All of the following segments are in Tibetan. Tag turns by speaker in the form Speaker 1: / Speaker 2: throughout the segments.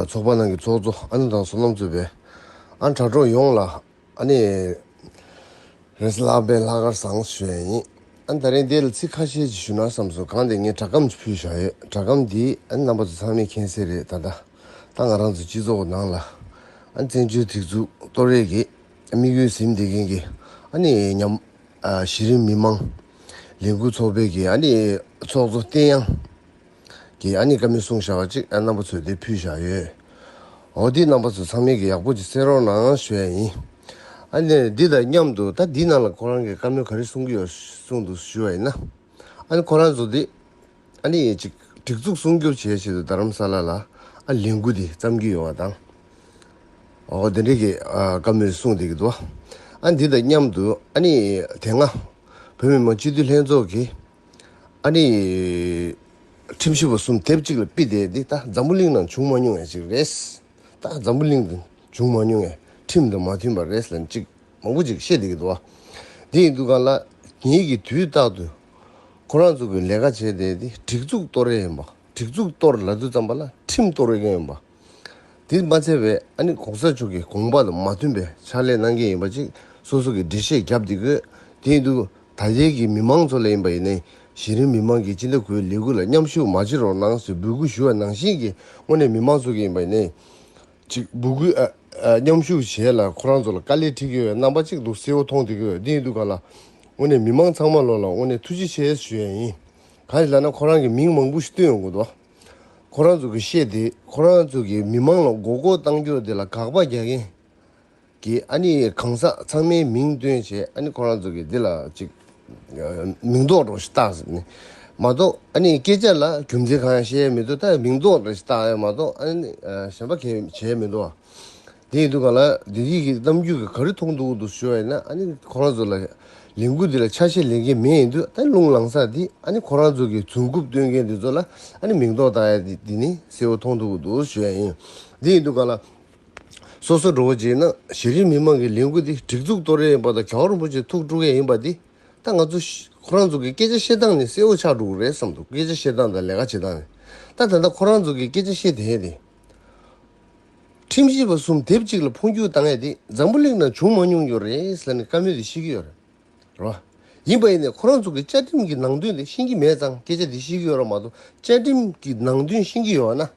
Speaker 1: ཚོགས་པ་ནང་གི་ཚོགས་གཙོ་ཨ་ནེ་དང་སོ་ནམ་གཙོས་པའི་ཨ་དྲ་གྲོགས་ཡོངས་ལ་ཨ་ནེ་རེས་གླ་པའི་ལྷག་དཀར་བཟང་ཞུ་ཡ་ཡིན། ཨ་ད་རེས་འདི་ལ་ཚིག་ཁ་ཤས་ཅིག་ཞུ་ན་བསམ་སོང་གང་དེ་ངས་དྲ་སྒམ་ཅིག་ཕུལ་བཞག་ཡོད་དྲ་སྒམ་འདི་ཨ་ནེ་རྣམ་པ་ཚོ་ཚང་མས་མཁྱེན་གསལ་རེད་ད་ལྟ་ད་ང་རང་ཚོའི་སྤྱི་ཚོགས་ནང་ལ་ཨ་ནེ་བཙན་བྱོལ་སྒྲིག་འཛུགས་གཏོར་རེས་ཀྱི་དམིགས་ཡུལ་ཟིན་བསྡད་མཁན་གྱི་ཨ་ནེ་ཉམས་གཞི་རིམ་མི་མང་ལས་འགུལ་ཚོགས་པའི་གྱི་ཨ་ནེ་ཚོགས་གཙོ་བསྟན་དབྱངས། གི་ཡག་ཉེས་ཀ་མེད་གསུང་བཞག་ཅིག་ཨ་རྣམ་པ་ཚོས་དེ་ཕུལ་བཞག་ཡོད་འོ་དེ་རྣམ་པ་ཚོ་ཚང་མིང་གི་ཡག་པོ་ཅིག་གསན་རོགས་གནང་ཞུ་ཡ་ཡིན་ཨ་ནས་འདི་དང་མཉམ་དུ་ད་འདི་ནང་ལ་ཁོ་རང་གི་བཀའ་མོལ་ག་རེ་གསུང་གི་ཡོད་གསུང་འདུག་ཞུ་བ་ཡིན་ན་ཨ་ནི་ཁོ་རང་ཚོ་དེ་ཨ་ནི་ཡིན་ཅིག་སྒྲིག་འཛུགས་སྲུང་སྐྱོབ་བྱེད་ཆེད་དུ་རྡ་རམ་ས་ལ་ལ་ཨ་ལས་འགུལ་དེ་བརྩམས་ཀྱི་ཡོད་བ་དང། འོ་དེ་འདྲའི་གི་བཀའ་མོལ་གསུང་དེ་གི་འདུག་ཨ་འདི་དང་མཉམ་དུ་ཨ་ནི་དེ་སྔ་བོད་མི་མང་སྤྱི་འཐུས་ལྷན་ཚོགས་ཀྱི། ཨ་ནི། ཁྲིམས་ཞིབ་པ་གསུམ་དེབ་གཅིག་ལ་དཔེ་དེབ་འདི་ད་འཛམ་བུ་གླིང་ནང་བྱུང་མ་མྱོང་བའི་ཞིག་རེད། ད་འཛམ་བུ་གླིང་དུ་བྱུང་མ་མྱོང་བའི་ཁྲིམས་དང་མ་མཐུན་པ་རེད་ལ་ཅིག་མང་པོ་ཅིག་བཤད་འདི་གི་འདུག། འདི་ཡི་འདུག་ག་ལ་ཉིད་ཀྱི་དུས་རྟག་ཏུ་ཁོ་རང་ཚོ་གི་ལས་ཀ་བྱས་དེ་འདི་སྒྲིག་འཛུགས་གཏོར་རེ་ཡིན་པ་སྒྲིག་འཛུགས་གཏོར་ལ་དུ་ཙམ་པ་ལ་ཁྲིམས་གཏོར་རེ་ཡིན་པ། དེས་མ་འཚལ་བས་ཨ་ནི་གོང་ས་མཆོག་གི་དགོངས་པ་དང་མ་མཐུན་པའི་ཕྱག་ལས་གནང་མཁན་ཡིན་པ་གཅིག་སོ་སོ་གི་འགྲེལ་བཤད་བརྒྱབ་སྡད་དགོས་དེ་ཡིན་དུས་ད་རྒྱལ་གྱི་མི་མང་ཚོ་ལས་ཡིན་པ་ཡིན་ནའི་གཞི་རིམ་མི་མང་གི་སྤྱི་ལྟ་གུའི་ལས་འགུལ་ལ་མཉམ་ཞུགས་མ་བྱེད་རོགས་གནང་ཟེར་འབོད་སྐུལ་ཞུ་བ་ནང་བཞིན་གྱི་སྔོན་ནས་མི་མང་ཚོ་གི་ཡིན་པ་ཡིན་ནའི་གཅིག་འབོད་སྐུལ་མཉམ་ཞུགས་བྱས་ལ་ཁོ་རང་ཚོ་ལ་དཀའ་ལས་འཁྲི་གི་རྣམ་པ་གཅིག་འདུག་གསལ་བོ་མཐོང་སྡད་དགོས་དེ་ཡིན་དུས་ག་ལ་དངོས་ནས་མི་མང་ཚང་མ་ལོ་ལ་དངོས་ནས་ཐུགས་རྗེ་ཆེ་ཞུ་ཡ་ཡིན་གང་ཞིག་ལ་ན་ཁོ་རང་གི་མིང་མང་པོ་ཞིག་བཏོན་ཡོང་དགོས་འདུག། ཁོ་རང་ཚོ་གིས་བཤད་དེ་ཁོ་རང་ཚོ་གིས་མི་མང་ལ་མགོ་སྐོར་གཏང་རྒྱུ་དེ་ལ་དགག་པ་རྒྱག་མཁན་གྱི་ཨ་ནི་གང་ཟག་ཚང་མའི་མིང་བཏོན་བྱས་ཨ་ནི་ཁོ་རང་ཚོ་གིས་དེ་ལ་ཅིག་མིང་འདོགས་འགྲོ་ཞིག་བཏགས་ཟེར་ནས་མ་གཏོགས་ཨ་ནི་སྐད་ཆ་ལ་རྒྱུ་མཚན་གང་ཡང་བཤད་མི་འདུག་ད་མིང་འདོགས་འགྲོ་ཞིག་བཏགས་ཡ་མ་གཏོགས་ཨ་ནི་གཞན་པ་གས་བྱས་མི་འདུག་ཨ། དེ་ཡིན་དུས་གང་ལ་བདེ་སྐྱིད་ཀྱི་གཏམ་རྒྱུད་ག་རེ་མཐོང་འདུག་འདུག་ཞུས་པ་ཡིན་ན་ཁོ་རང་ཚོ་ལ་ལས་འགུལ་འདི་ལ་ཆ་ཤས་ལེན་མཁན་མེད་ཡིན་དུས་ད་ལུང་ལང་ས་དེ་ཁོ་རང་ཚོ་གི་རྫུན་རྐུབ་སྟོན་མཁན་དེ་ཚོ་ལ་མིང་འདོགས་བཏང་ཡ་དེ་ནི་གསལ་བོ་མཐོང་འདུག་འདུག་ཞུས་ཡ་ཡིན། དེ་ཡིན་དུས་གང་ལ་སོ་སོ་འགྲོ་བོ་རྗེས་གནང་གཞི་རིམ་མི་མང་གི་ལས་འགུལ་འདི་སྒྲིག་འཛུགས་གཏོར་ཡ་ཡིན་པ་དང་གྲྭ་བ་རིན་པོ་ཆེ་ཐུགས་དཀྲུག་ཡ་ཡིན་པ་དེ་ད་ང་ཚོ་ཁོ་རང་ཚོ་གི་སྐད་ཆ་བཤད་སྟངས་ནི་གསལ་བོ་ཆགས་འགྲོ་གི་རེད་བསམ་འདུག་སྐད་ཆ་བཤད་སྟངས་དང་ལས་ཀ་བྱེད་སྟངས་ནི་ད་ད་ལྟ་ཁོ་རང་ཚོ་གི་སྐད་ཆ་བཤད་དེ་དེ། ཁྲིམས་ཞིབ་པ་གསུམ་དེབ་གཅིག་ལ་འཕོ་འགྱུར་བཏང་ཡས་དེ་འཛམ་བུ་གླིང་ནང་བྱུང་མ་མྱོང་རྒྱུ་རེད་ཟེར་ནས་བཀའ་མོལ་དེ་ཤེས་ཀྱི་ཡོད་རེད་བ། ཡིན་པ་ཡིན་ནའི་ཁོ་རང་ཚོ་གི་བཅའ་ཁྲིམས་ཀྱི་ནང་དོན་དེ་ཤེས་ཀྱི་མེད་ཙང་སྐད་ཆ་དེ་ཤེས་ཀྱི་ཡོད་ར་མ་གཏོགས་བཅའ་ཁྲིམས་ཀྱི་ནང་དོན་ཤེས་ཀྱི་ཡོད་ན།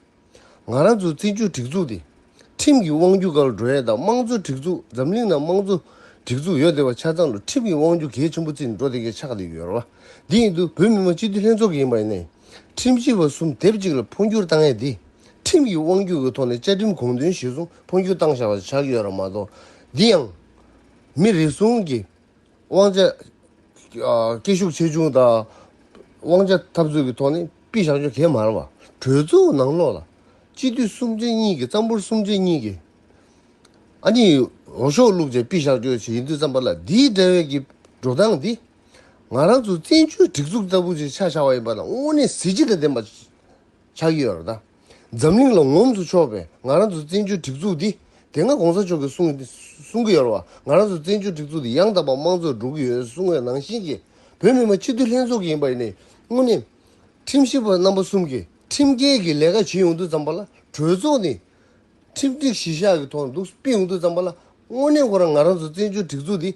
Speaker 1: ང་རང་ཚོ་བཙན་བྱོལ་སྒྲིག་འཛུགས་དེ་ཁྲིམས་ཀྱི་དབང་བསྒྱུར་ག་ལ་འགྲོ་ཡས་དང་དམངས་གཙོ་སྒྲིག་འཛུགས་འཛམ་གླིང་ནང་དམངས་གཙོ་སྒྲིག་འཛུགས་ཡོད་དེ་བ་ཆ་ཚང་དུ་ཁྲིམས་ཀྱི་དབང་བསྒྱུར་གལ་ཆེན་པོ་བརྩི་ནས་འགྲོ་དེ་གས་ཆག་དེ་ཡོད་ར་བ། དེ་ཡིན་དུས་བོད་མི་མང་སྤྱི་འཐུས་ལྷན་ཚོགས་ཀྱི་ཡིན་པ་ཡིན་ནའི་ཁྲིམས་ཞིབ་པ་གསུམ་དེབ་གཅིག་ལ་འཕོ་འགྱུར་བཏང་ཡས་དེ། ཁྲིམས་ཀྱི་དབང་སྒྱུར་གྱི་ཐོག་ནས་བཅའ་ཁྲིམས་གོང་དོན་གཞིར་བཟུང་འཕོ་འགྱུར་བཏང་བཞག་ལ་ཆགས་ཡོད་རབས་མ་གཏོགས། འདི་ཡང། མི་རེ་ཟུང་གིས་དབང་ཆ། སྐད་ཤུགས་ཆེ་ཆུང་དང། དབང་ཆ་འཐབ་རྩོད་ཀྱི་ཐོག་ནས་དཔེ་བཞག་རྒྱུ་གལ་མ་རག་པར། གྲོས་ཚོགས་ནང་ལོགས་ལ། སྤྱི་འཐུས་གསུམ་བཅས་གཉིས་ཀྱིས་གཙང་པོར་གསུམ་བཅས་གཉིས་ཀྱིས། ཨ་ནི། འོ་ཤོག་བླུགས་བཅས་དཔེ་བཞག་རྒྱུ་ཡིན་དུས་བརྩམས་པ་ལ་འདིའི་འདྲ་བའི་གི་འགྲོ་སྟངས་འདི། ང་རང་ཚོ་བཙན་བྱོལ་སྒྲིག་འཛུགས་ལྟ་བུ་ཞིག་ཆགས་བཞག་པ་ཡིན་པ་ལ་དངོས་གནས་གཟི་བརྗིད་དང་ལྡན་པ། ཆགས་ཀྱི་ཡོད་རེད་ད། འཛམ་གླིང་ལ་ངོམ་དུ་ཆོག་པའི་ང་རང་ཚོའི་བཙན་བྱོལ་སྒྲིག་འཛུགས་འདི། དེ་སྔ་གོང་ས་མཆོག་གིས་གསུང་གསུང་གི་ཡོད་རེད་བ། ང་རང་ཚོའི་བཙན་བྱོལ་སྒྲིག་འཛུགས་འདི་ཡང་དག་པ་དམངས་གཙོར་འགྲོ་གི་ཡོད་གསུང་བའི་ནང་བཞིན་གྱི། བོད་མི་མང་སྤྱི་འཐུས་ལྷན་ཚོགས་ཀྱི་ཡིན་པ་ནས་དངོས་གནས། ཁྲིམས་ཞིབ་པ་རྣམ་པ་གསུམ་གྱིས་ཁྲིམས་འགལ་གྱི་ལས་ཀ་བྱེད་ཡོང་དུས་ཙམ་པ་ལ་གྲོས་ཚོགས་ནས། ཁྲིམས་སྒྲིག་གཞི་བཞག་གི་ཐོག་ནས་འདུག་སྤེལ་ཡོང་དུས་ཙམ་པ་ལ་དངོས་གནས་ཁོ་རང་ང་རང་ཚོའི་བཙན་བྱོལ་སྒྲིག་འཛུགས་འདི།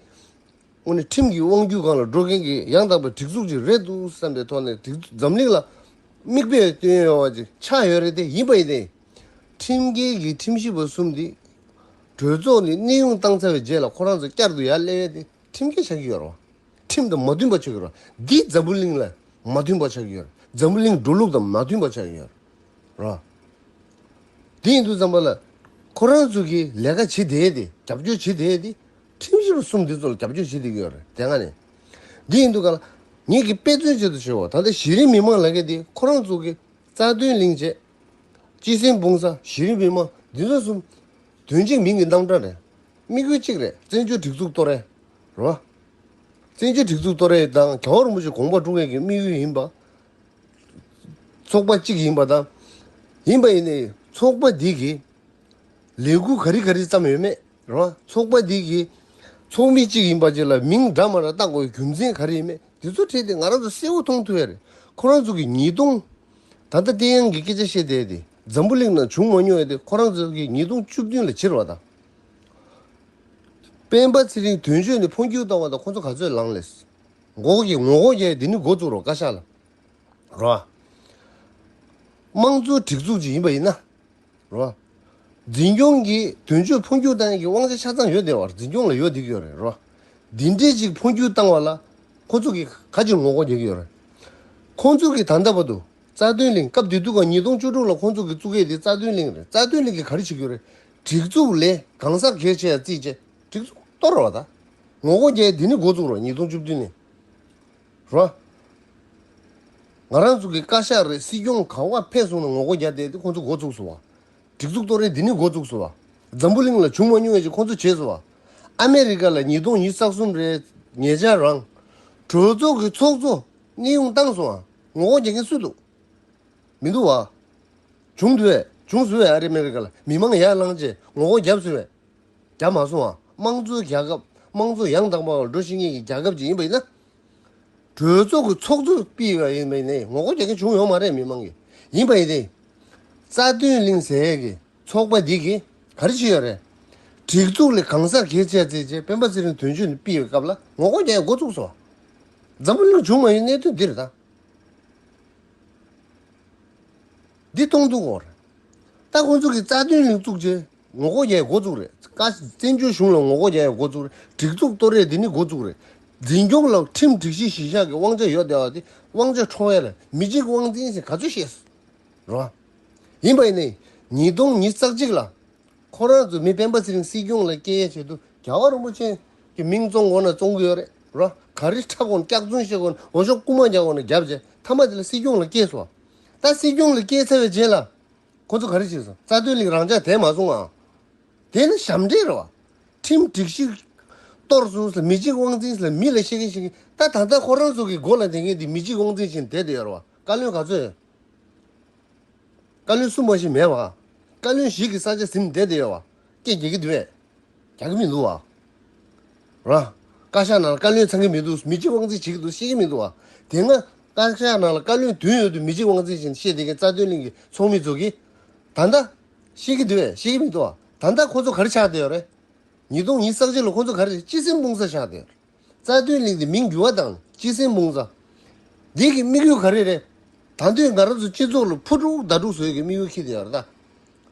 Speaker 1: དངོས་གནས་ཁྲིམས་ཀྱི་དབང་བསྒྱུར་ཁང་ལ་འགྲོ་མཁན་གྱི་ཡང་དག་པའི་སྒྲིག་འཛུགས་ཅིག་རེད་འདུག་བསམ་པའི་ཐོག་ནས་སྒྲིག་འཛུགས་འཛམ་གླིང་ལ་མིག་དཔེ་སྟོན་ཡོད་པ་ཅིག་ཆགས་ཡོད་རེད་དེ་ཡིན་པ་ཡིན་ཏེ། ཁྲིམས་འགལ་གྱི་ཁྲིམས་ཞིབ་པ་གསུམ་དེ་གྲོས་ཚོགས་ནས་གནས་དབྱུང་བཏང་ཚར་བའི་རྗེས་ལ་ཁོ་རང་ཚོ་བསྐྱར་དུ་ཡར་སླེབས་ཡས་དེ་ཁྲིམས་འགལ་ཆགས་ཀྱི་ཡོད་རེད་བ། ཁྲིམས་དང་མ་མཐུན་པ་ཆགས་ཀྱི་ཡོད་རེད་འདི་འཛམ་བུ་གླིང་ལ་མ་མཐུན་པ་ཆགས་ཀྱི་ཡོད་རེད་འཛམ་བུ་གླིང་འགྲོ་ལུགས་དང་མ་མཐུན་པ་ཆགས་ཀྱི་ཡོད་རེད་བ། དེ་ཡིན་དུ་བསམ་པ་ལ་ཁོ་རང་ཚོ་གིས་ལས་ཀ་བྱེད་བསྡད་དེ་རྒྱབ་སྐྱོར་བྱེད་བསྡད་དེ་ཁྲིམས་ཞིབ་གསུམ་དེ་ཚོ་ལ་རྒྱབ་སྐྱོར་བྱེད་དུ་ཡོད་རེད་དེ་སྔ་ནས་འདི་ཡིན་འདུག་ག་ལ། ངེད་ཀྱིས་དཔེ་མཚོན་བྱེད་དུ་བྱས་བ་ད་ལྟ་གཞི་རིམ་མི་མང་ལ་ཁེལ་ཏེ་ཁོ་རང་ཚོ་གི་རྩ་དོན་གླེང་ཆེད། སྤྱི་སེམས་སྤུངས་ས་གཞི་རིམ་མི་མང་འདི་ཚོ་གསུམ། དོན་གཅིག་མིང་གི་རྣམ་གྲངས་རེད། དམིགས་ཡུལ་གཅིག་རེད་བཙན་བྱོལ་སྒྲིག་འཛུགས་གཏོར་རེད། བཙན་བྱོལ་སྒྲིག་འཛུགས་གཏོར་རེད་དང་ག་བར་མུ་ཆོ་གོང་པར་ཀྲུང་ཡོན་གྱི་དམིགས་ཡུལ་ཡིན་པ། ཚོགས་པ་གཅིག་ཡིན་པ་དང། ཡིན་པ་ཡིན་ནའི་ཚོགས་པ་འདི་གིས་ལས་འགུལ་ག་རི་ག་རི་བརྩམས་ཡོད་མེད། ར། ཚོགས་པ་འདི་གི་ཚོགས་མི་གཅིག་ཡིན་པ་བཅས་ལ་མིང་འདྲ་མ་འདྲ་བཏགས་དགོས་པའི་རྒྱུ་མཚན་ག་རེ་ཡིན་མེད་དེ་ཚོ་ཁྲིད་དེ་ང་རང་ཚོ་གསལ་བོ་མཐོང་ཐུབ་ཡ་རེད་ཁོ་རང་ཚོ་གིས་ཉིས་སྟོང། ད་ལྟ་བསྟན་དབྱངས་ཀྱི་སྐད་ཆ་བཤད་བསྡད་དེ་འཛམ་བུ་གླིང་ནང་བྱུང་མ་མྱོང་ཡ་དེ་ཁོ་རང་ཚོ་གིས་ཉིས་སྟོང་བཅུ་བདུན་ལ་བྱིར་བ་དང། སྤེན་པ་ཚེ་རིང་དོན་གཅོད་ནས་འཕོ་འགྱུར་བཏང་བ་དང་ཁོ་ཚོ་ག་ཚོད་ལངས་ལེས། འགོག་གི་ངོ་གོ་རྒྱ་ཡ་དེ་ནི་འགོ་བཙུགས་རོགས་བཀའ་ཤག་ལ། ར། དམངས་གཙོའི་སྒྲིག་འཛུགས་ཅིག་ཡིན་པ་ཡིན་ན། རེད། འཛིན་སྐྱོང་གིས་དོན་གཅོད་འཕོ་འགྱུར་བཏང་ཡན་གྱི་དབང་ཆ་ཆ་ཚང་ཡོད་བསྡད་བར་འཛིན་སྐྱོང་ལ་ཡོ་འདིག་ཡོད་རེད། འདི་འདྲའི་ཅིག་འཕོ་འགྱུར་བཏང་བ་ལ་ཁོ་ཚོ་གིས་ག་ཅིག་ངོ་རྒོལ་བྱེད་ཀྱི་ཡོད་རེད། ཁོང་ཚོ་གིས་ད་ལྟ་བར་དུ་རྩ་དོན་གླིང་སྐབས་དེ་དུས་ག་ཉིས་སྟོང་བཅུ་དྲུག་ལ་ཁོང་ཚོ་གིས་བཙུགས་མཁན་དེ་རྩ་དོན་གླིང་རེད་རྩ་དོན་གླིང་གིས་ག་རེ་བྱེད་ཀྱི་ཡོད་རེད་སྒྲིག་འཛུགས་ལས་གང་ཟག་གལ་ཆེ་ཡ་རྩིས་བྱས་སྒྲིག་འཛུགས་གཏོར་རོགས་ད་ངོ་རྒོལ་བྱས་ཡས་དེ་ནི་འགོ་བཙུགས་རོགས་ཉིས་སྟོང་བཅུ་བདུན་ནས་རོ། ང་རང་ཚོ་གི་བཀའ་ཤག་རེད་སྲིད་སྐྱོང་གང་བ་ཕེབས་སོང་ན་ངོ་རྒོལ་རྒྱག་བསྡད་ཁོང་ཚོ་འགོ་བཙུགས་སོང་བ། སྒྲིག་འཛུགས་གཏོར་རན་འདི་ནི་འགོ་བཙུགས་སོང་བ། འཛམ་བུ་གླིང་ལ་བྱུང་མ་མྱོང་བའི་ཅིག་ཁོང་ཚོ་བྱས་སོང་བ། ཨ་མེ་རི་ཀ་ལ་ཉིས་སྟོང་ཉིས་བརྩག་གསུམ་རེད་ངེད་ཅག་རང། གྲོས་ཚོགས་ཀྱི་ཚོགས་གཙོ་གནས་དབྱུང་བཏང་སོང་བ་ངོ་རྒོལ་རྒྱག་མཁན་སུ་འདུག་མི་འདུག་བ། བྱུང་དུས་བས་བྱུང་སོང་བས་ཨ་རི་མེ་རི་ཀ་ལ་མི་མང་ཡར་ལངས་རྗེས་ངོ་རྒོལ་རྒྱབ་སོང་བས། རྒྱ་མ་སོང་བ་དམངས་གཙོའི་རྒྱལ་ཁབ་དམངས་གཙོ་ཡང་དག་པ་འགྲོ་བཞིན་མཁན་གྱི་རྒྱལ་ཁབ་ཅིག་ཡིན་པ་ཡིན་ན། གྲོས་ཚོགས་ཀྱི་ཚོགས་གཙོ་སྤེལ་བ་ཡིན་པ་ཡིན་ནའི་ངོ་རྒོལ་རྒྱག་མཁན་བྱུང་ཡོང་མ་རེད་མི་མང་གིས་ཡིན་པ་ཡིན་ཏེ། རྩ་དོན་གླིང་ཟས་ཀྱི་ཚོགས་པ་འདི་གིས་ག་རེ་བྱས་ཡོད་རེད། སྒྲིག་འཛུགས་ལས་གང་ཟག་གིས་བྱས་ཚེ་ཅེས་སྤེན་པ་ཚེ་རིང་དོན་གཅོད་ནས་སྤེལ་བའི་སྐབས་ལ་ངོ་རྒོལ་རྒྱག་ཡ་འགོ་བཙུགས་སོ། འཛམ་བུ་གླིང་བྱུང་མ་ཡོད་གནད་དོན་འདིར་ད། འདི་སྟོང་འཛུགས་འོག་རེད། ད་ཁོང་ཚོ་གིས་རྩ་དོན་ལིང་བཙུགས་རྗེས་ངོ་ལྐོག་རྒྱའི་འགོ་བཙུགས་རེད། བཀའ་བཙན་བྱོལ་གཞུང་ལ་ངོ་ལྐོག་རྒྱའི་འགོ་བཙུགས་རེད། སྒྲིག་འཛུགས་གཏོར་རེས་འདི་ནི་འགོ་བཙུགས་རེད། འཛིན་སྐྱོང་ལ་ཁྲིམས་སྒྲིག་གཞི་གཞི་བཞག་གི་དབང་ཆ་ཡོད་བསྡད་པ་དེ་དབང་ཆ་འཕྲོག་ཡ་ལ་མི་གཅིག་དབང་འཛིན་ཟེར་ག་ཚོད་ཤེས་རོགས་ཨ། ཡིན་པ་ཡིན་ནའི་ཉིས་སྟོང་ཉིས་བརྩེགས་གཅིག་ལ་ཁོ་རང་ཚོ་མི་སྤེན་པ་ཚེ་རིང་སྲིད་སྐྱོང་ལ་སྐྱེལ་ཡ་བྱེད་དུ་རྒྱ་བ་རིན་པོ་ཆེན་གྱི་མིང་བཙོང་དགོ་ན་བཙོང་གི་ཡོད་རེད་རོགས་ག་རི་ཁྲ་གོང་སྐྱག་རྫུན་བཤད་དགོ་ན་འོ་ཞོག་རྐུ་མ་རྒྱག་དགོ་ན་རྒྱབ་རྗེས་མཐའ་མ་དེ་ལ་སྲིད་སྐྱོང་ལ་སྐྱེལ་སོ། ད་སྲིད་སྐྱོང་ལ་སྐྱེས་ཚར་བའི་རྗེས་ལ། ཁོ་ཚོ་ག་རེ་བྱེད་སོང་རྩ་དོན་ལིག་རང་འཇགས་དེ་མ་སོང་ངང། དེ་ནི་ཞབས་འདྲེན་རེད་བ། ཁྲིམས་སྒྲིག་ཞིག། གཏོར་སོང་ཟེར་མི་གཅིག་དབང་འཛིན་ཟེར་མི་ལ་བཤད་མཁན་བཤད་མཁན་ད་ད་ལྟ་ཁོ་རང་ཚོ་གི་མགོ་ལ་འདེད་མཁན་དེ་མི་གཅིག་དབང་འཛིན་བཞིན་དེད་དུ་ཡོད་རེད་བ་བཀའ་བློན་ག་ཚོད་ཡོད། བཀའ་བློན་སུ་མ་ཞིག་མེད་བ། བཀའ་བློན་ཞིག་གི་ས་ཆ་ཟིན་དེད་དུ་ཡོད་བ་སྐད་རྒྱག་གི་འདུག་བས། རྒྱག་གི་མི་འདུག་བ། ར། བཀའ་ཤག་ནང་ལ་བཀའ་བློན་ཚང་གི་མི་འདུག་མི་གཅིག་དབང་འཛིན་བྱེད་ཀྱི་འདུག་ཤེས་ཀྱི་མི་འདུག་བ། དེ་སྔ། བཀའ་ཤག་ནང་ལ་བཀའ་བློན་བདུན་ཡོད་དུས་མི་གཅིག་དབང་འཛིན་བཞིན་བཤད་བསྡད་མཁན་རྩ་དོན་གླིང་གི་ཚོགས་མི་ཚོགས་ཀྱི། ད་ལྟ། ཤེས་ཀྱི་འདུག་བས་ཤེས་ཀྱི་མི་འདུག་བ། ད་ལྟ་ཁོ་ཚོ་ག་རེ་ཆགས་བསྡད་ཡོད་རེད། ཉིས་སྟོང་ཉིས་བསགས་རྗེས་ལ་ཁོ་ཚོ་ག་རེ་ཅི་སེམས་དཔུང་གསར་ཆགས་བསྡད་ཡོད་རེད། རྩ་དོན་གླིང་འདི་མིང་བསྒྱུར་བ་དང་སྤྱི་སེམས་དཔུང་རྩ། འདི་གི་དམིགས་ཡུལ་ག་རེ་རེད། ད་དུས་འགའ་རང་ཚོ་སྤྱི་ཚོགས་ལ་ཕུ་དཀྲུག་ཟླ་དཀྲུག་བཟོས་གི་དམིགས་ཡུལ་ཁྱི་དེ་ཡོད་རེད་ད།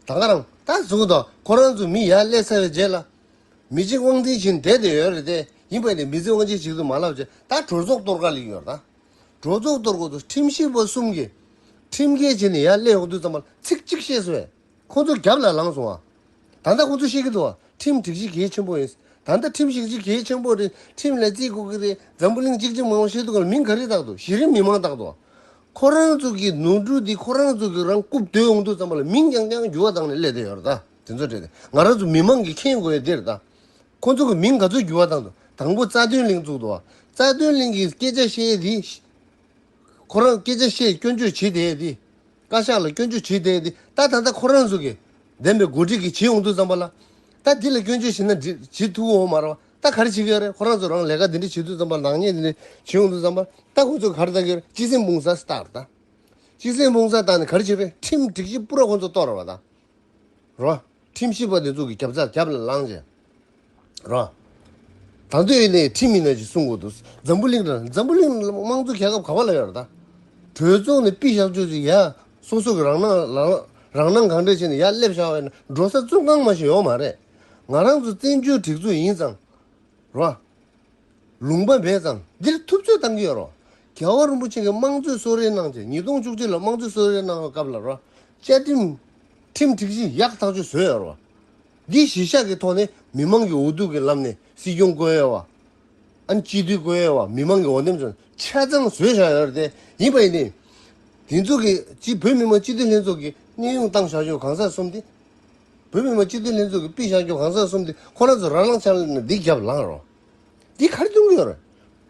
Speaker 1: ད་འགའ་རང་ད་གཟུགས་ད་ཁོ་རང་ཚོ་མི་ཡར་སླེབས་ཚར་བའི་རྗེས་ལ། མི་གཅིག་དབང་འཛིན་བྱེད་འདྲེ་དེ་ཡོད་རེད་དེ་ཡིན་པ་ནས་མི་ཚེ་དབང་ཆེན་ཞིག་ཏུ་མ་ལབ་རྗེས་ད་གྲོས་ཚོགས་གཏོར་ག་ལིག་ཡོད་རེད་ད། གྲོས་ཚོགས་གཏོར་གོ་ཏུ་ཁྲིམས་ཞིབ་པ་གསུམ་གྱིས་ཁྲིམས་འགལ་བྱས་ནས་ཡར་སླེབས་ཡོང་དུས་ཙམ་མ་ཚིག་གཅིག་བཤད་སོས། ཁོ་ཚོ་རྒྱབ་ལ་ལངས་སོང་ཨ། ད་ལྟ་ཁོ་ཚོ་ཤེས་ཀྱི་འདུག་ཁྲིམས་སྒྲིག་གཞི་གལ་ཆེན་པོ་ཡིན། ད་ལྟ་ཁྲིམས་སྒྲིག་གཞི་གལ་ཆེན་པོ་རེད་ཁྲིམས་ལས་བརྩི་དགོས་ཀྱི་རེད་འཛམ་བུ་གླིང་གཅིག་གཅིག་མང་བོ་ཤེས་འདུག་ལ་མིང་ག་རེ་བཏགས་འདུག་གཞི་རིམ་མི་མང་བཏགས་འདུག་ཁོ་རང་ཚོ་གི་ནོར་འཁྲུལ་འདི་ཁོ་རང་ཚོ་གི་རང་རྐུབ་རྡོལ་འོང་འདུག་བསམ་པ་ལ་མིང་རྐྱང་རྐྱང་འགྱུར་བ་བཏང་ནས་སླེབས་བསྡད་ཡོད་རེད་དེ་ཚོ་བྲེལ་ཏེ་ང་རང་ཚོ་མི་མང་གིས་མཁྱེན་དགོས་ཡོད་དེ་རེད་ཁོ་ཚོ་གི་མིང་ག་ཚོད་འགྱུར་བ་བཏང་འདུག་དང་པོ་རྩ་དོན་གླེང་བཙུགས་འདུག་རྩ་དོན་གླེང་གི་སྐད་ཆ་བཤད་དེ། ཁོ་རང་སྐད་ཆ་བཤད་སྐྱོན་བརྗོད་བྱེད་དེ། བཀའ་ཤག་ལ་སྐྱོན་བརྗོད་བྱེད་བསྡད་དེ་ད་ད་ལྟ་ཁོ་རང་ཚོ་གི་བདེན་པའི་འགོ་ཁྲིད་ཀྱི་བྱེད་ཡོང་དུས་ཙམ་པ་ལ། ད་འདི་ལ་སྐྱོན་བརྗོད་བྱེད་ན་འདི་བྱེད་ཐུབ་འོང་མ་ར་བ་ད་ག་རེ་བྱེད་གི་རེད་ཁོ་རང་ཚོ་རང་ལས་ཀ་འདི་འདྲ་བྱེད་དུས་ཙམ་པ་ནག་ཉེས་འདི་འདྲ་བྱེད་ཡོང་དུས་ཙམ་པ་ད་ཁོ་ཚོ་ག་རེ་བཏང་གི་རེད་སྤྱི་སེམས་དཔུང་ཚ་སྟག་རེད་ད། སྤྱི་སེམས་དཔུང་ཚ་བཏང་ནས་ག་རེ་བྱེད་པའི་ཁྲིམས་སྒྲིག་གཞི་པུ་ར་ཁོ་ཚོ་གཏོར་ར་བ་ད། རོ། ཁྲིམས་ཞིབ་པ་ནས་གཙུག་གི་རྒྱབ་རྩར་རྒྱབ་ལ་ལངས། བྱས། རོ། དང་དོད་ནས་ཁྲིམས་མི་སྣ་ཞིག་གསུང་དགོས་འདུག་འཛམ་བུ་གླིང་དང་འཛམ་བུ་གླིང་ནི་དམངས་གཙོའི་རྒྱལ་ཁབ་ག་བ་ལ་ཡོད་རེད་ད། གྲོས་ཚོགས་ནས་པི་བཞག་ཆོས་ཅིག་ཡ། སོ་སོ་གི་རང་སྣང་ལ་ལ་རང་སྣང་གང་འདྲས་བྱས་ནས་ཡ་སླེབས་བཞག་བས་ན་འགྲོ་ས་བཙོན་ཁང་མ་ཞིག་ཡོད་མ་རེད། ང་རང་ཚོ་བཙན་བྱོལ་སྒྲིག་འཛུགས་ཡིན་ཙང། རོ། ལུང་པ་མེད་ཙང་འདིར་ཐུབ་ཚོད་བཏང་གི་ཡོད་རོགས། རྒྱལ་བ་རིན་པོ་ཆེ་གི་དམངས་གཙོའི་གསོལ་རའི་གནང་སྟེ་ཉིས་སྟོང་བཅུ་གཅིག་ལོར་དམངས་གཙོའི་གསོལ་རའི་གནང་བའི་སྐབས་ལ་རོགས། བཅའ་ཁྲིམས། ཁྲིམས་སྒྲིག་གཞི་ཡག་ཐག་ཆོད་བཟོས་ཡོད་རོགས། འདི་གཞི་བཞག་གི་ཐོག་ནས་མི་དམངས་ཀྱི་འོ་སྡུག་གི་ལམ་ནས་སྲིད་སྐྱོང་བསྐོས་ཡོད་བ། ཨན་སྤྱི་འཐུས་བསྐོས་ཡོད་བ་མི་མང་གི་འོ་འདེམས་ཚོ་ཆ་ཚང་བཟོས་བཞག་ཡོད་རེད་ཡིན་པ་ཡིན་ཏེ། དེ་ཚོ་གི་སྤྱི་བོད་མི་མང་སྤྱི་འཐུས་ལྷན་ཚོགས་ཀྱི་གནས་དབྱུང་བཏང་བཞག་ཆོག་གང་ཟག་གསུམ་དེ་བོད་མི་མང་སྤྱི་འཐུས་ལྷན་ཚོགས་ཀྱི་པི་ཞང་སྐྱོང་གང་ཟག་གསུམ་དེ་ཁོ་རང་ཚོ་རང་སྣང་ཆ་ལ་འདི་རྒྱབ་ལངས་རོགས། འདི་གར་འགྱུར་གྱི་ཡོད་རེད།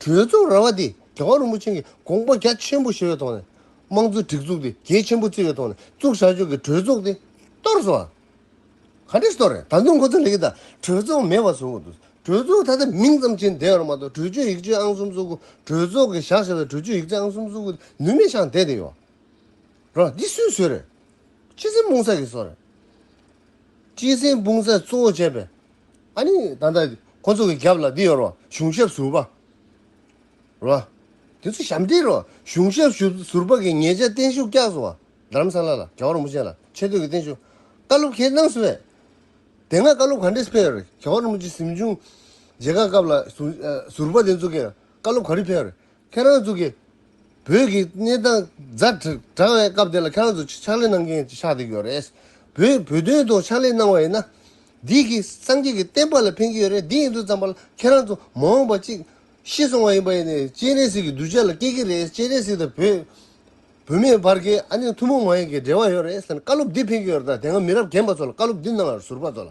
Speaker 1: གྲོས་ཚོགས་ར་བ་འདི་རྒྱ་གར་རིན་པོ་ཆེན་གྱི་དགོངས་པ་རྒྱ་ཆེན་པོ་བཞེས་པའི་ཐོག་ནས། དམངས་གཙོའི་སྒྲིག་འཛུགས་འདི་རྒྱལ་ཆེན་པོ་བརྩི་བའི་ཐོག་ནས་བཙུགས་བཞག་ཆོག་གི་གྲོས་ཚོགས་འདི་གཏོར་སོང་ཨ། ག་འདྲས་གཏོར་རེད་ད་དུང་ཁོ་ཚོ་ལས་ཀྱི་ད་གྲོས་ཚོགས་མེད་པ་བཟོ་གི་འདུག་གྲོས་ཚོགས་ད་ལྟ་མིང་ཙམ་བྱས་བསྡད་ཡོད་རེད་མ་གཏོགས་གྲོས་ཆོད་ཡིག་ཆའི་ཨང་གསུམ་བཙུགས་གྲོས་ཚོགས་ཀྱི་བཞག་བཞག་པའི་གྲོས་ཆོད་ཡིག་ཆ་ཨང་གསུམ་བཙུགས་ནུས་མེད་ཤག་བསྡད་བསྡད་ཡོད་རེད་འདི་སུས་བཟོས་རེད། སྤྱི་སེམས་སྤུངས་ས་ཀྱི་སོ་རེད། སྤྱི་སེམས་སྤུངས་ས་གཙོ་བོ་བྱས་པའི། ཨ་ནི་ད་ལྟ་ཁོ་ཚོ་གི་རྒྱབ་ལ་འདི་ཡོད་རོགས་གཞུང་ཞབས་ཟུར་པ། རོགས། དེ་ཚོ་ཞབས་འདེགས་རོགས་གཞུང་ཞབས་ཟུར་པ་གི་ངེད་ཅག་བརྟན་བཞུགས་སྐྱག་བཟོ་བ་དར་རམ་ས་ལ་ལ་རྒྱ་བ་རིན་པོ་ཆེ་ལ་ཆེ་བསྟོད་ཀྱི་བརྟན་བཞུགས་བཀའ་སློབ་ཁྱེད་གནང་ཟེར་བས། དེ་སྔ་བཀའ་སློབ་ག་འདྲས་ཕེབས་རེད་རྒྱ་བ་རིན་པོ་ཆེ་གཟིམ་ཆུང་རྗེ་ཁག་སྐབས་ལ་ཟུར་པ་དེ་ཚོ་གི་བཀའ་སློབ་ག་རེ་ཕེབས་རེད་ཁྱེད་རང་ཚོ་གིས་བོད་ཀྱི་གནས་སྟངས་རྫ་དྲང་བའི་སྐབས་དེ་ལ་ཁྱེད་རང་ཚོ་ཕྱག་ལས་གནང་མཁན་ཆགས་བསྡད་ཡོད་རེད། བོད་བོད་དོན་ཐོག་ཕྱག་ལས་གནང་བ་ཡིན་ན། འདི་གི་སངས་རྒྱས་ཀྱི་བསྟན་པ་ལ་ཕན་གྱི་ཡོད་རེད་འདི་ཡིན་དུས་ཙམ་པ་ལ་ཁྱེད་རང་ཚོ་མ་འོངས་པ་གཅིག་ཤི་སོང་བ་ཡིན་པ་ཡིན་ནས་སྤྱན་རས་གཟིགས་ཀྱི་གདུལ་བྱ་ལ་སྐྱེལ་གྱི་རེད་སྤྱན་རས་གཟིགས་དང་བོད་བོད་མི་བར་གྱི་ཨ་ནེ་ཐུན་མོང་མ་ཡིན་གྱི་འབྲེལ་བ་ཡོད་རེད་བསམ་ནས་བཀའ་སློབ་འདི་ཕེན་གྱི་ཡོད་རེད་ད་དེ་སྔ་མི་རབས་རྒན་པ་ཚོ་ལ་བཀའ་སློབ་འདི་གནང་བར་ཟུར་པ་ཚོ་ལ།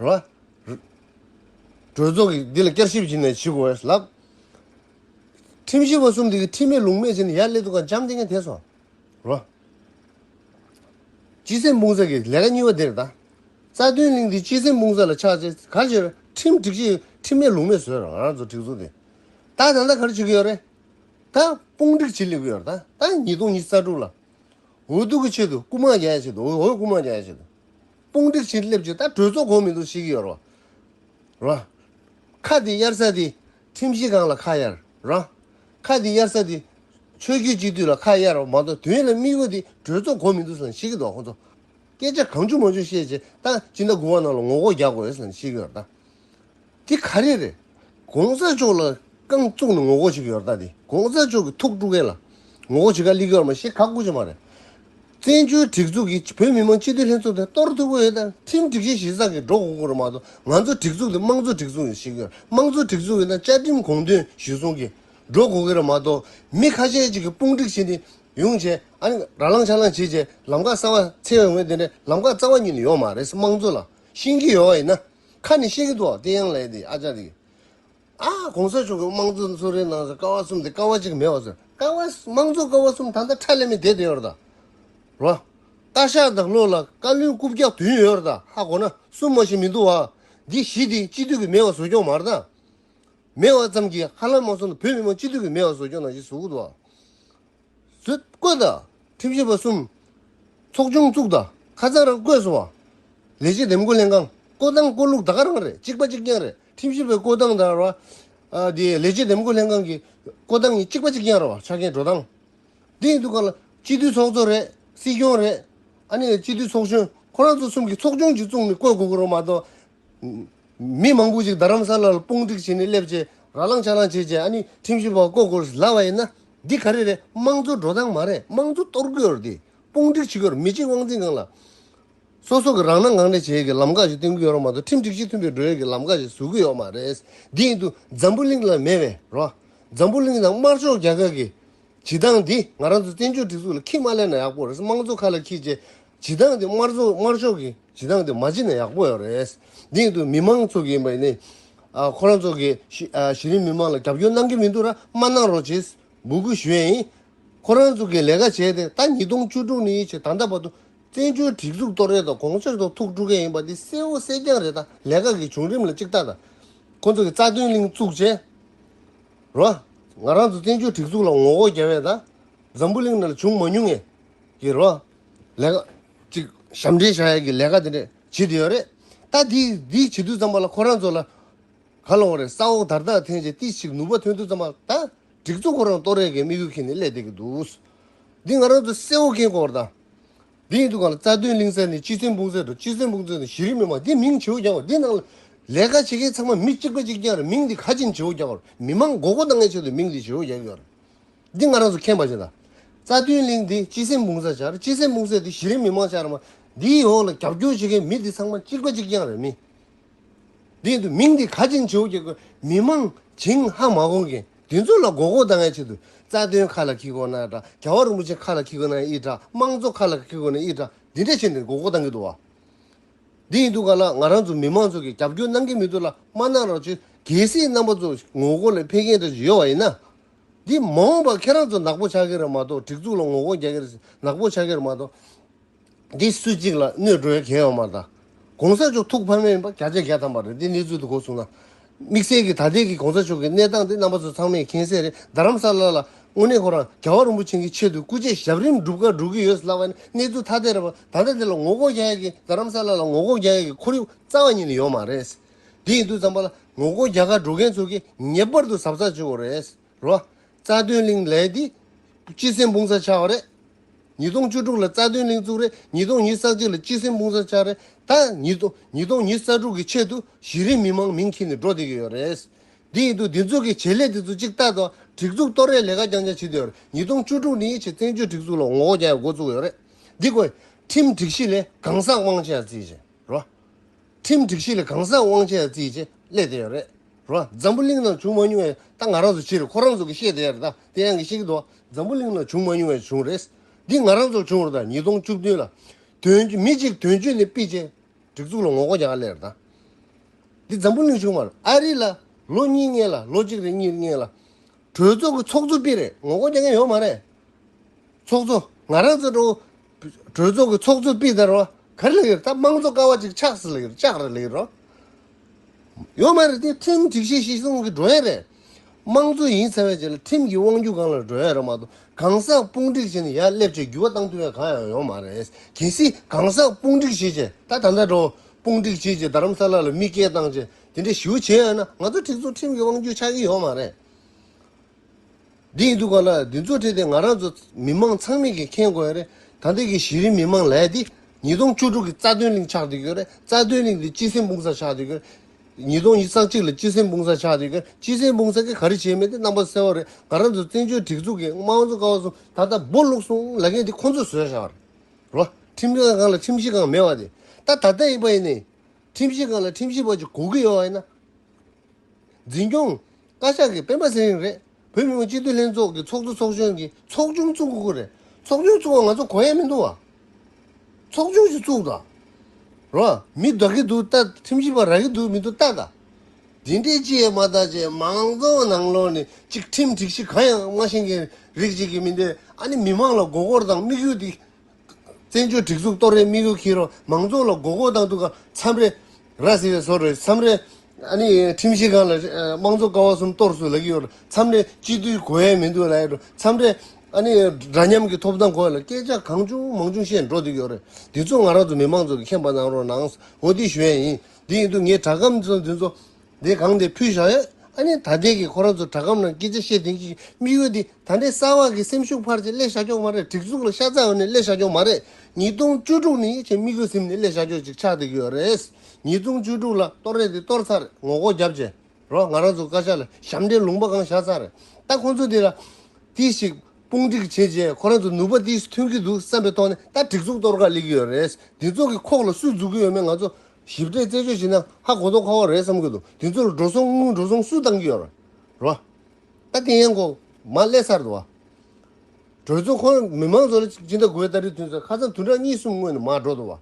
Speaker 1: རོ། གྲོས་ཚོགས་ཀྱིས་འདི་ལ་བསྐྱར་ཞིབ་བྱས་ནས་ཇི་དགོས་བྱས་ལ། ཁྲིམས་ཞིབ་པ་གསུམ་དེ་གིས་ཁྲིམས་མེད་ལུགས་མེད་བྱས་ནས་ཡར་སླེབས་ཐུབ་ཁར་འཇམ་བསྟེན་མཁན་དེ་ཚོ་རོ། སྤྱི་སེམས་དཔུང་ཚོགས་ཀྱི་ལས་ཀ་གཉིས་པ་དེ་རེད་ད། རྩ་དོན་གླིང་འདི་སྤྱི་སེམས་དཔུང་ཚོགས་ལ་ཆགས་རྗེས་ག་ཕྱིར་ཁྲིམས་སྒྲིག་ཆས་ཁྲིམས་མེད་ལུགས་མེད་བཟོས་རང་རང་ཚོ་སྒྲིག་འཛུགས་དེ་ད་ད་ལྟ་ག་རེ་བྱེད་ཀྱི་ཡོད་རེད་ད། དཔུང་སྒྲིག་བྱེད་སླེབས་ཀྱི་ཡོད་རེད་ད་ད་ཉིས་སྟོང་ཉིས་རྩ་དྲུག་ལ། འོས་བསྡུ་གི་ཆེད་དུ་རྐུ་མ་རྒྱག་ཡ་ཆེད་དུ་འོས་འོས་རྐུ་མ་རྒྱག་ཡ་ཆེད་དུ། དཔུང་སྒྲིག་བྱེད་སླེབས་ཀྱི་ད་གྲོས་ཚོགས་གོང་མི་འདུག་ཞིག་ཡོད་རོ་ར། ཁ་དེ་གཡར་ས་དེ་ཁྲིམས་གཞི་སྒང་ལ་ཁ་གཡར་ར། ཁ་དེ་གཡར་ས་དེ་ཆོས་རྒྱུད་སྤྱི་འཐུས་ལ་ཁ་གཡར་རོ་མ་གཏོགས་དོན་ལ་དམིགས་ཡོད་དེ་གྲོས་ཚོགས་གོང་མི་འདུག་ཟེར་ཞིག་འདུག་ཁོ་ཚོ་སྐད་ཆ་གང་བྱུང་མང་བྱུང་བཤད་ཀྱི་ད་ཅི་འདྲ་དགོས་པ་རྣམས་ལ་ངོ་ལྐོག་རྒྱག་དགོས་ཟེར་ཞིག་ཡོད་ར། འདི་ག་རེ་རེད། གོང་ས་མཆོག་ལ་རྐང་བཙུགས་ནས་ངོ་རྒོལ་བྱེད་ཀྱི་ཡོད་རྟགས་དེ་གོང་ས་མཆོག་གི་ཐུགས་དཀྲུག་མཁན་ལ་ངོ་རྒོལ་བྱེད་ཁ་གླིག་ཡོད་མ་ཤེས་ཁག་པོ་ཆེ་མ་རེད། བཙན་བྱོལ་སྒྲིག་འཛུགས་ཀྱིས་བོད་མི་མང་སྤྱི་འཐུས་ལྷན་ཚོགས་དེ་གཏོར་ཐུབ་ཀྱི་ཡོད་ད་ཁྲིམས་སྒྲིག་གཞི་གཞི་བཟང་གི་སྒྲོག་གོང་བཀུར་མ་གཏོགས་ང་ཚོ་སྒྲིག་འཛུགས་དེ་དམངས་གཙོ་སྒྲིག་འཛུགས་ཤིག་ཡིན་དམངས་གཙོ་སྒྲིག་འཛུགས་ཡིན་ད་བཅའ་ཁྲིམས་གོང་དོན་གཞི་བཟུང་གི་སྒྲོག་གོ་གི་རེད་མ་གཏོགས་མི་ཁ་ཤས་གཅིག་གི་དཔུང་སྒྲིག་བྱེད་དེ་ཡོང་བྱས་ཨ་ནི་ར་ལང་ཆ་ལང་བྱེད་བྱས་ལམ་ཁ་གསར་བ་འཚལ་བའི་ངོས་དེ་འདྲའི་ལམ་ཁ་རྩ་བ་ཉིད་ནས་ཡོད་མ་རེད་དམངས་གཙོ་ལ་ཤིང་གི་ཡོད་བ་ཡིན་ན། ཁ་ནས་ཤེས་ཀྱི་འདུག་བསྟན་དབྱངས་ལས་དེ་ཨ་ཅག་རེད། ཨ་ཨ་གོང་ས་མཆོག་གིས་དམངས་གཙོ་གསོལ་རས་གནང་ཟེར་ཀ་བ་གསུམ་དེ་ཀ་བ་གཅིག་མེད་པ་ཟེར་ཀ་བ་དམངས་གཙོ་ཀ་བ་གསུམ་ད་ལྟ་ཁྲལ་ལས་མེད་དེ་དེ་ཡོད་རེད་ད། རོ། སྟག་ཤར་དང་ལྷོ་ལ་བཀའ་བློན་རྐུབ་བཀྱག་བདུན་ཡོད་རེད་ད་ཧ་གོ་ན་གསུམ་མ་ཞིག་མི་འདུག་བ། འདི་བཞི་དེ་སྤྱི་འཐུས་ཀྱི་མེད་བ་བཟོ་སྐྱོང་མ་རེད་ད། མེད་བ་ཙམ་གྱིས་ཧ་ལམ་མ་སོང་ན་བོད་མི་མང་སྤྱི་འཐུས་ཀྱི་མེད་བ་བཟོ་སྐྱོང་ན་ཞིག་བཟོ་གི་འདུག་བ། བཟོད་བཀོད་དང་ཁྲིམས་ཞིབ་པ་གསུམ། ཚོགས་ཆུང་བཙུགས་དང་ཁ་རྩང་རང་བསྐོས་སུ་བ། ལས་བྱེད་འདེམས་བསྐོ་ལྷན་ཁང་བསྐོ་སྟངས་བསྐོ་ལུགས་དག་རང་རེད་གཅིག་པ་གཅིག་རྐྱང་རེད་ཁྲིམས་ཞིབ་པའི་བསྐོ་སྟངས་དང་ར་བ། དེ་ལས་བྱེད་འདེམས་བསྐོ་ལྷན་ཁང་གི་བསྐོ་སྟངས་གཉིས་གཅིག་པ་གཅིག་རྐྱང་ར་བ་ཆ་རྐྱེན་འགྲོ་སྟངས་འདི་ཡིན་འདུག་ག་ལ་སྤྱི་འཐུས་ཚོགས་གཙོ་རེད་སྲིད་སྐྱོང་རེད་ཨ་ནི་སྤྱི་འཐུས་ཚོགས་གཞོན་ཁོ་རང་ཚོ་གསུམ་གྱི་ཚོགས་ཆུང་གཅིག་བཙུགས་ནས་བསྐོས་དགོས་ཀྱི་རོ་མ་གཏོགས། མི་མང་པོ་ཞིག་རྡ་རམ་ས་ལ་ལ་དཔུང་སྒྲིག་བྱས་ནས་སླེབས་རྗེས་ར་ལངས་ཆ་ལངས་བྱས་རྗེས་ཨ་ནི་ཁྲིམས་ཞིབ་པ་བསྐོ་དགོས་རེད་ལབ་པ་ཡིན་ན་འདི་ག་རེ་རེད་དམངས་གཙོའི་འགྲོ་སྟངས་མ་རེད་དམངས་གཙོ་གཏོར་དགོས་རེད་དེ་དཔུང་སྒྲིག་བྱེད་དགོས་རེད་མི་གཅིག་དབང་འཛིན་གང་ལ། སོ་སོ་གི་རང་སྣང་ངང་ནས་བྱེད་ཀྱི་ལམ་ཁ་ཞིག་བསྟེན་གི་ཡོད་རོགས་མ་གཏོགས་ཁྲིམས་སྒྲིག་གཞི་མཐུན་པའི་འགྲོ་ཡོད་ཀྱི་ལམ་ཁ་ཞིག་བཟོ་གི་ཡོད་མ་རེད་འདི་ཡིན་དུ་འཛམ་བུ་གླིང་ལ་མེད་པས་རོགས་འཛམ་བུ་གླིང་དང་དམར་ཕྱོགས་རྒྱ་གར་གྱི་བྱེད་སྟངས་འདི་ང་རང་ཚོ་བཙན་བྱོལ་སྒྲིག་འཛུགས་ལ་ཁྱི་མ་གླས་ན་ཡག་པོ་རེད་དམངས་གཙོ་ཁ་ལ་ཁྱི་བྱེད་བྱེད་སྟངས་འདི་དམར་གཙོ་དམར་ཕྱོགས་ཀྱི། བྱེད་སྟངས་དེ་མ་བྱེད་ན་ཡག་པོ་ཡོད་རེད། དེ་ཡིན་དུས་མི་མང་ཚོགས་ཀྱི་ཡིན་པ་ཡིན་ནའི། ཁོ་རང་ཚོ་གིས་གཞི་རིམ་མི་མང་ལ་རྒྱབ་སྐྱོར་གནང་གི་མི་འདུག་ར་མ་གནང་རོགས་ཅེས་འབོད་སྐུལ་ཞུ་ཡ་ཡིན། ཁོ་རང་ཚོ་གིས་ལས་ཀ་བྱས་ཏེ་ད་ཉིས་སྟོང་བཅུ་དྲུག་ནས་ཕྱི་ད་ལྟ་བར་དུ་བཙན་བྱོལ་སྒྲིག་འཛུགས་གཏོར་རེས་དང་གོང་ཚོད་ཐོག་ཐུག་འགྲོ་མཁན་ཡིན་པ་དེ་གསལ་བོ་གསལ་རྐྱང་རེད་ད་ལས་ཀ་གི་བྱུང་རིམ་ལ་གཅིག་ལྟ་ད། ཁོ་ཚོ་གིས་རྩ་དོན་གླིང་བཙུགས་རྗེས་རོ། ང་རང་ཚོ་བཙན་བྱོལ་སྒྲིག་འཛུགས་ལ་ངོ་རྒོལ་རྒྱབ་ཡ་ད་འཛམ་བུ་གླིང་ནང་ལ་བྱུང་མ་མྱོང་ངེས་ཀྱི་རོ། ལས་ཀ། གཅིག་ཞབས་འདྲེན་བྱ་ཡག་གི་ལས་ཀ་དེ་འདྲ་བྱེད་དུ་ཡོད་རེད་ད། དེ་འདི་བྱེད་དུས་ཙམ་པ་ལ་ཁོ་རང་ཚོ་ལ། ག་ལོང་རེད་ས་འོག་དར་ཐག་འཐེན་ཆེད་ཏིས་ཆིག་ནུབ་པ་ཐོན་དུས་ཙམ་པ་ད། སྒྲིག་འཛུགས་ཁོ་རང་ཏོ་རེད་གི་མིག་གུ་ཁེན་ནས་སླད་བསྡད་ཀྱི་འདུག། འདི་ང་རང་ཚོ་གསལ་བོ་ཁེན་དགོས་རེད་ད། འདི་ཡིན་དུ་གང་ལ་རྩ་དོན་གླིང་ཚ་ནི་སྤྱི་སེམས་དཔུང་ཚད་དང་སྤྱི་སེམས་དཔུང་ཚད་དང་གཞི་རིམ་མི་མང་འདི་མིང་ཆེ་བོ་རྒྱག་པ་འདི་ནང་ལ། ལས་ཀ་བྱེད་མཁན་ཚང་མ་མི་གཅིག་པ་གཅིག་རྐྱང་རེད་མིང་འདི་ག་ཅིན་ཆེ་བོ་རྒྱག་པར་མི་མང་མགོ་སྐོར་གཏང་མཁན་ཆེད་དུ་མིང་འདི་ཆེ་བོ་རྒྱག་གི་ཡོད་རེད། འདི་ང་རང་ཚོ་མཁྱེན་པ་བཞིན་ལ། རྩ་མཐུན་གླིང་འདི་སྤྱི་སེམས་དཔུང་གསར་ཆར་སྤྱི་སེམས་དཔུང་གསར་དེ་གཞི་རིམ་མི་དམངས་ཆར་མ་འདིའི་འོག་ལ་རྒྱབ་སྐྱོར་བྱེད་མཁན་མི་འདི་ཚང་མ་གཅིག་པ་གཅིག་རྐྱང་རེད་མི་འདི་འདུག་མིང་འདི་ག་ཅིང་བྱིའུ་སྐྱེ་རྒུ་མི་དམངས་ཇིང་ཧ་མ་གོང་མཁན་འདི་ཚོ་ལ་མགོ་སྐོར་ལྡང་ཡ་ཆེད་དུ་རྩ་དོན་ཁ་ལ་ཁྱི་གོ་ན་འདྲ་རྒྱལ་བ་རིན་པོ་ཆེ་ཁ་ལ་ཁྱི་གོ་ན་ཨི་འདྲ་དམངས་གཙོ་ཁ་ལ་ཁྱི་གོ་ན་ཨི་འདྲ་འདི་འདྲ་བྱེད་འདི་མགོ་སྐོར་ལྡང་གི་འདུག་བ་འདི་ཡིན་འདུག་ག་ལ་ང་རང་ཚོ་མི་དམངས་ཚོ་གི་རྒྱབ་སྐྱོར་གནང་གི་མི་འདུག་ལ་མ་གནང་རོགས་གཅིག་གལ་སྲིད་རྣམ་པ་ཚོ་ངོ་རྒོལ་ལ་ཕེབས་མཁན་འདྲ་ཡོད་བ་ཡིན་ན། འདི་མ་འོངས་པར་ཁྱེད་རང་ཚོ་ནག་པོ་ཆགས་ཀྱི་རེད་མ་གཏོགས་སྒྲིག་འཛུགས་ལ་ངོ་རྒོལ་རྒྱག་ཀྱི་རེད་ནག་པོ་ཆགས་ཀྱི་རེད་མ་གཏོགས། འདི་སུ་གཅིག་ལ་གནོད་འགྲོ་ཡ་གལ་ཡོད་མ་ད། གོང་ས་མཆོག་ཐུགས་ཕམ་མེད་ཡིན་པ་བརྒྱ་ཆ་བརྒྱ་ཐམ་པ་རེད་འདི་གནས་ཚུལ་དུ་གོ་བཟུང་ན། དམིགས་བསལ་གྱི་ད་ལྟའི་གི་གོང་ས་མཆོག་གི་གནས་སྟངས་འདི་རྣམ་པ་ཚོ་ཚང་མས་མཁྱེན་གསལ་རེད་རྡ་རམ་ས་ལ་ལ་དངོས་གནས་ཁོ་རང་རྒྱལ་བ་རིན་པོ་ཆེན་གྱི་ཆེད་དུ་སྐུ་ཆས་ཞབས་རིམ་སྒྲུབ་ཁར་འགྲོ་གི་ཡོད་ལབ་པ་ནི་གནས་ཚུལ་ཐ་དད་རེད་བ་ད་ལྟ་འདི་ལ་ངོ་རྒོལ་རྒྱག་ཡ་གི་རྡ་རམ་ས་ལ་ལ་ངོ་རྒོལ་རྒྱག་ཡ་གི་ཁོར་ཡུག་རྩ་བ་ཉིད་ནས་ཡོད་མ་རེད། དེ་ཡིན་དུས་རྩམ་པ་ལ་ངོ་རྒོལ་རྒྱག་ཁར་འགྲོ་མཁན་ཚོ་གིས་ངེས་པར་དུ་ཟབ་ཚགས་བྱེད་དགོས་རེད། རྩ་དོན་གླིང་ལས་དེ། སྤྱི་སེམས་དཔུང་སར་ཆགས་པ་རེད། ཉིས་སྟོང་བཅུ་དྲུག་ལ་རྩ་དོན་གླིང་བཙུགས་རེད་ཉིས་སྟོང་ཉིས་ས་གཅིག་ལ་སྤྱི་སེམས་དཔུང་སར་ཆགས་རེད་ད། ཉིས་སྟོང་ཉིས་ས་དྲུག་གི་ཆེད་དུ་གཞི་རིམ་མི་མང་མིང་འཁྱེར་ནས་འགྲོ་བསྡད་ཀྱི་ཡོད་རེད། དེ་ཡིན་དུས་དེ་ཚོ་གིས་བྱེད་ལས་དེ་ཚོ་གཅིག་ལྟ་དང་སྒྲིག་འཛུགས་གཏོར་རེས་ལས་ཀ་རྐྱང་རྐྱང་བྱེད་དུས་ཡོད་རེད་ཉིས་སྟོང་བཅུ་དྲུག་ནི་ཆེས་བཙན་བྱོལ་སྒྲིག་འཛུགས་ལ་ངོ་རྒོལ་རྒྱག་ཡག་འགོ་བཙུགས་ཡོད་རེད། འདི་ཀོས། ཁྲིམས་སྒྲིག་གཞི་ལས་གང་ཟག་དབང་ཆ་བརྩི་བཞིན་རོགས། ཁྲིམས་སྒྲིག་གཞི་ལས་གང་ཟག་དབང་ཆའི་རྩིས་བྱེད་སླད་དེ་ཡང་རེད་རོ། འཛམ་བུ་གླིང་ནང་བྱུང་མ་མྱོང་བའི་རྟགས་ང་རང་ཚོ་ཕྱིར་ཁོ་རང་ཚོ་གི་ཤེས་དེ་ཡར་དང་དེ་ཡང་གི་ཤེས་ཀྱི་འདུག་འཛམ་བུ་གླིང་ནང་བྱུང་མ་མྱོང་བའི་བྱུང་རེས་འདི་ང་རང་ཚོར་བྱུང་རོ་དང་ཉིས་སྟོང་བཅུ་བདུན་ལ་དོན་མི་གཅིག་དོན་གཅོད་ནས་སྤི་བྱེད་སྒྲིག་འཛུགས་ལ་ངོ་རྒོལ་རྒྱག་སླད་དང་འདི་འཛམ་བུ་གླིང་བྱུང་མ་རེད་ཨ་རི་ལ་ལོ་གཉིས་ལྔའི་ལ་ལོ་གཅིག་རེ་གཉིས་རེ་ལྔའི་ལ་གྲོས་ཚོགས་ཀྱི་ཚོགས་གཙོ་པི་རེད་ངོ་རྒོལ་བྱེད་མཁན་ཡོད་མ་རེད། ཚོགས་གཙོ་ང་རང་ཚོ་ཀྲོའུ་གྲོས་ཚོགས་ཀྱི་ཚོགས་གཙོ་པི་དར་བ་ག་རེ་ལ་ཡོད་ད་དམངས་གཙོ་ཀ་བ་ཅིག་ཆགས་སི་ལ་ཡོད་ལྕགས་རི་ལ་ཡོད་རོ། ཡོད་མ་རེད་དེ་ཁྲིམས་སྒྲིག་གཞི་གཞི་གསུམ་གྱི་འགྲོ་ཡ་རེད། དམངས་གཙོ་ཡིན་ཚ་བའི་རྗེས་ལ་ཁྲིམས་ཀྱི་དབང་བསྒྱུར་གང་ལ་འགྲོ་ཡ་རེད་མ་གཏོགས་གང་ཟག་དཔུང་སྒྲིག་བྱས་ནས་ཡར་སླེབས་ཆེད་འགྱུར་བ་བཏང་ཐུབ་ཡ་གང་ཡང་ཡོད་མ་རེད་གལ་སྲིད་གང་ཟག་དཔུང་སྒྲིག་བྱེད་ཆེད་ད་ད་ལྟ་ཀྲོའུ་དཔུང་སྒྲིག་བྱེད་ཆེད་རྡ་རམ་ས་ལ་ལ་མི་སྐྱེལ་བཏང་ཆེད་དེ་འདྲའི་ཞུ་བྱེད་ཡང་ན་ང་ཚོ་ཁྲི་ཚོ་ཁྲིམས་ཀྱི་དབང་བསྒྱུར་ཆགས་ཀྱི་ཡོད་མ་རེད། འདི་ཡིན་དུས་ག་ལ་འདི་ཚོ་ཁྲིད་དེ་ང་རང་ཚོ་མི་མང་ཚང་མིག་གིས་མཁྱེན་དགོས་རེད་ད་ལྟའི་གི་གཞི་རིམ་མི་མང་ལས་དེ་ཉིས་སྟོང་བཅུ་དྲུག་གི་རྩ་དོན་གླིང་ཆགས་འདི་གི་རེད་རྩ་དོན་གླིང་དེ་སྤྱི་སེམས་དཔུང་ས་ཆགས་འདི་གི་རེད་ཉིས་སྟོང་ཉིས་བརྩེགས་གཅིག་ལ་སྤྱི་སེམས་དཔུང་ས་ཆགས་འདི་གི་རེད་སྤྱི་སེམས་དཔུང་ས་གི་ག་རེ་བྱས་མེད་དེ་རྣམ་པ་གསལ་བོ་རེད་ང་རང་ཚོ་བཙན་བྱོལ་སྒྲིག་འཛུགས་གི་དམངས་གཙོ་ཀ་བ་སོང་ད་ལྟ་སྦོ་བླུགས་སོང་ལ་མཁན་དེ་ཁོང་ཚོས་བཟོས་ཤག་རེད་རོ་ཁྲིམས་ཁང་གང་ལ་ཁྲིམས་གཞི་གང་མེད་བ་དེ་ད་ད་ལྟ་ཡིན་པ་ཡིན་ནའི་ཁྲིམས་ཞིབ་ཁང་ལ་ཁྲིམས་ཞིབ་བ་ཅིག་གོ་གི་ཡོད་ན། འཛིན་སྐྱོང། བཀའ་ཤག་གི་སྤེན་པ་ཟེར་རིང་རེད། བོད་མི་མང་སྤྱི་འཐུས་ལྷན་ཚོགས་ཀྱི་ཚོགས་གཙོ་ཚོགས་གཞོན་གྱི་ཚོགས་ཆུང་བཙུགས་མཁོ་རེད། ཚོགས་ཆུང་བཙུགས་བ་ང་ཚོ་གོ་ཡས་མི་འདུག་བ། ཚོགས་ཆུང་ཞིག་བཙུགས་དང། རོ། མི་བདག་གི་འདུག་ལྟ་ཁྲིམས་ཞིབ་བ་རག་གི་འདུག་མི་འདུག་ལྟ་དང། འདི་འདྲའི་སྤྱི་ཡས་མ་བལྟ་ཅེས་མང་གཙོ་ནང་ལོགས་ནས་ཅིག་ཁྲིམས་སྒྲིག་གཞི་གང་ཡང་མ་ཤེས་མཁན་རིགས་ཅིག་གི་མི་འདི་ཨ་ནི་མི་མང་ལ་མགོ་སྐོར་དང་དམིགས་ཡུལ་དེ། བཙན་བྱོལ་སྒྲིག་འཛུགས་གཏོར་རའི་དམིགས་ཡུལ་འཁྱེར་རོགས། མང་ཚོགས་ལ་མགོ་སྐོར་དང་དུ་ག་མཚམས་རེ། ར་ཟེར་བའི་སོར་རེ་མཚམས་རེ། ཁྲིམས་ཞིབ་ཁང་ལ། དམངས་གཙོ་ཀ་བ་གསུམ་གཏོར་བཟོ་ལག་གི་ཡོད་རེད། མཚམས་རེ། སྤྱི་མཐུས་གོ་ཡས་མི་འདུག་ལ་ཡོད་རེད། མཚམས་རེ། འདྲ་མཉམ་གྱི་ཐོབ་ཐང་གོ་ཡས་ལ་སྐད་ཆ་གང་བྱུང་མང་བྱུང་བཤད་འགྲོ་འདོད་ཡོད་རེད། འདི་ཚོ་ང་རང་ཚོ་མི་མང་ཚོ་གི་མཁྱེན་པ་གནང་རོགས་གནང། འོ་དེ་ཞུ་ཡས་ཡིན། འདི་ཡིན་འདུག་ངས་དྲ་སྒམ་ཚོ་འདི་ཚོ། འདི་གང་དེ་ཕུལ་བཞག་ཡ། ཨ་ནི་ད་ལྟའི་གི་ཁོ་རང་ཚོ་དྲ་ཁམས་ནང་སྐད་ཆ་བཤད་དོན་གྱི་དམིགས་ཡུལ་འདི་ད་ནི་གསར་བ་གི་སེམས་ཤུགས་ཕར་ཆེ་སླད་ཤ་ཁྱོག་མ་རེད་སྒྲིག་འཛུགས་ལ་ཤ་ཚ་བ་ནི་སླད་ཤ་ཁྱོག་མ་རེད་ཉིས་སྟོང་བཅུ་དྲུག་ནི་ཡིད་ཆེས་དམིགས་ཡུལ་སེམས་ནི་སླད་ཤ་ཁྱོག་ཅིག་ཆགས་བསྡད་ཀྱི་ཡོད་རེད་ཉིས་སྟོང་བཅུ་དྲུག་ལ་གཏོར་རེ་དེ་གཏོར་ཚར་རེད་ངོ་ལྐོག་རྒྱབ་བྱེད་རོགས་ང་རང་ཚོ་བཀའ་ཤག་ལ་ཞབས་འདྲེན་ལུང་པ་གང་བཞག་ཚར་རེད་ད་ཁོང་ཚོ་དེ་ལ་དེ་ཞིག་དཔུང་སྒྲིག་བྱས་རྗེས་ཁོ་རང་ཚོ་ནུས་པ་དེ་ཐོན་གྱི་འདུག་བསམ་པའི་ཐོག་ནས་ད་སྒྲིག་འཛུགས་གཏོར་ག་ལེགས་ཀྱི་ཡོད་རེད་དེ་ཚོ་གི་ཁོག་ལ་སུས་འཛུགས་ཀྱི་ཡོད་མེད་ང་ཚོ་ཞིབ་ཕྲའི་རྩད་གཅོད་བྱས་ན་ཧ་གོ་དོག་ཁ་བ་རེད་བསམ་གྱི་འདུག་དེ་ཚོར་འགྲོ་སོང་དངུལ་འགྲོ་སོང་སུས་བཏང་གི་ཡོད་ར་བ། ད་དེ་ཡན་གོ་མ་སླེ་ཚར་འདུག་བ། གྲོས་ཚོགས་ཁོ་མི་མང་ཚོ་ལ་ཅི་འདྲ་དགོས་ད་རེས་དུས་ཚོད་ཁ་ཚང་དུས་འདྲ་གཉིས་གསུམ་སྔོན་ནས་མ་འགྲོ་འདུག་བ།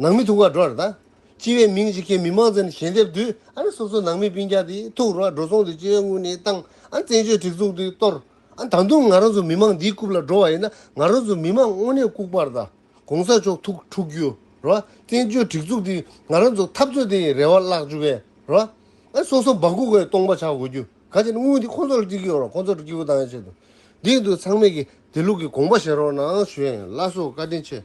Speaker 1: ནང་མི་ཐུག་ག་འགྲོ་ར་ད། སྤྱི་བའི་མིང་ཅིག་གིས་མི་མང་ཚོ་ནས་ཞལ་འདེབས་དུས་ཨ་རེ་སོ་སོ་ནང་མི་སྤིན་རྒྱག་དེ་ཐུག་ར་བ་འགྲོ་སོང་དེ་སྤྱི་བའི་དངུལ་ནས་བཏང་ཨ་བཙན་བྱོལ་སྒྲིག་འཛུགས་དེ་གཏོར་ཨ་ད་དུང་ང་རང་ཚོ་མི་མང་འདིའི་རྐུབ་ལ་འགྲོ་བ་ཡིན་ན་ང་རང་ཚོ་མི་མང་དངོས་གནས་ལྐུག་པར་ད། གོང་ས་མཆོག་ཐུགས་འཁྲུག་རྒྱུ། བཙན་བྱོལ་སྒྲིག་འཛུགས་འདི་ང་རང་ཚོ་འཐབ་རྩོད་དེ་རེ་བ་བརླག་བཅུག་པས། ཨ་སོ་སོ་འབག་སྒུག་གི་སྟོང་པ་ཆགས་དགོས་རྒྱུ་ག་ཅི་ན་དངུལ་དེ་ཁོང་ཚོ་ལ་སྤྲིད་ཀྱི་ཡོད་རོགས་ཁོང་ཚོ་སྤྲིད་ཀྱི་ཡོད་ཆེད་དུ་བསྡད་འདུག་ཚང་མས་ཀྱི་དེ་ལུགས་ཀྱི་དགོངས་པ་བཞེས་རོགས་གནང་བྱོས་ལ་སོ་བཀའ་དྲིན་ཆེ།